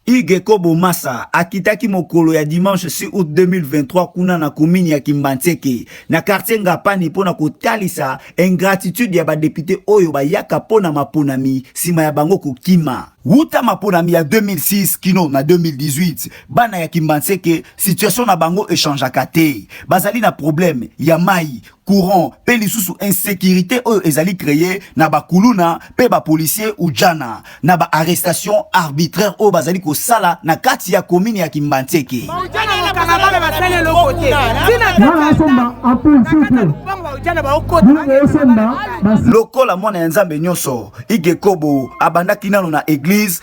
Hugues Kobo Massa akitaki mokolo ya dimanche 6 août 2023 kuna na commune ya Kimbanseke na quartier Ngapani mpo na kotalisa ingratitude ya badepite oyo bayaka mpo na maponami nsima ya bango kokima. Wuta maponami ya 2006 kino na 2018, bana ya Kimbanseke situation na bango echangeaka te. Bazali na problème ya mayi, courant pe lisusu insecurite oyo ezali kreye na bakuluna pe bapolisier ujana na ba arrestation arbitraire oyo bazali kosala na kati ya komini ya kimbanseke lokola mwana ya nzambe nyonso igekobo abandaki nano na eglise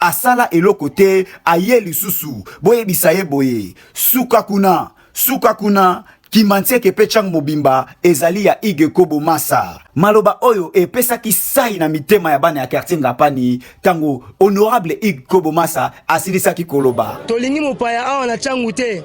Asala eloko te aye lisusu boyebisa ye boye suka kuna suka kuna Kimansieke pe Chang mobimba ezali ya Hugues Kobo Masa. Maloba oyo epesaki sayi na mitema ya bana ya quartier Ngapani tango honorable Hugues Kobo Masa asilisaki koloba. Tolingi mopaya awa na Changu te.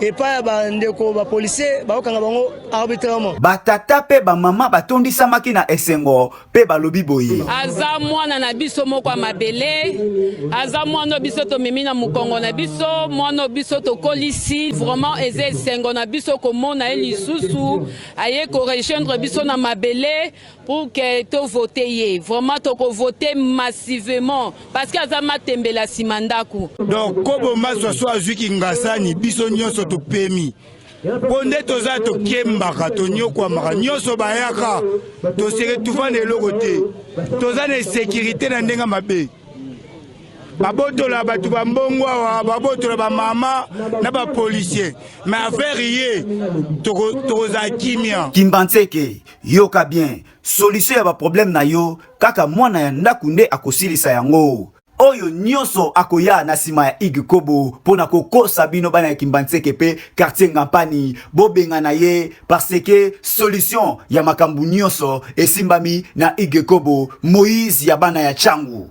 epai ya bandeko bapolisier bakokanga bango arbitrairement. Batata mpe bamama batondisamaki na esengo mpe balobi boye, aza mwana na biso moko ya mabele, aza mwana biso tomemi na mokongo na biso, mwana biso tokolisi. Vraiment eza esengo na biso komona ye lisusu aye ko rejoindre biso na mabele. pour que to vote ye vraiment toko vote massivement parce que aza matembela sima ndaku donc kobo maswa so azwi kingasani biso nyonso topemi mpo nde toza tokembaka tonyokwamaka nyonso bayaka toseke tufa na eloko te toza na esekirite na ndenge mabe babotola bato ba mbongo awa babotola bamama na bapolisier ma affaire ye tokozala kimia kimbanseke Yoka bien, solution ya ba problème na yo kaka mwana ya ndaku nde akosilisa yango. Oyo nyoso akoya na sima ya Hugues Kobo pona kokosa bino bana ya Kimbanseke pe quartier Ngampani bobengana ye par ce que solution ya makambu nyoso esimbami na Hugues Kobo Moïse ya bana ya Tshangu.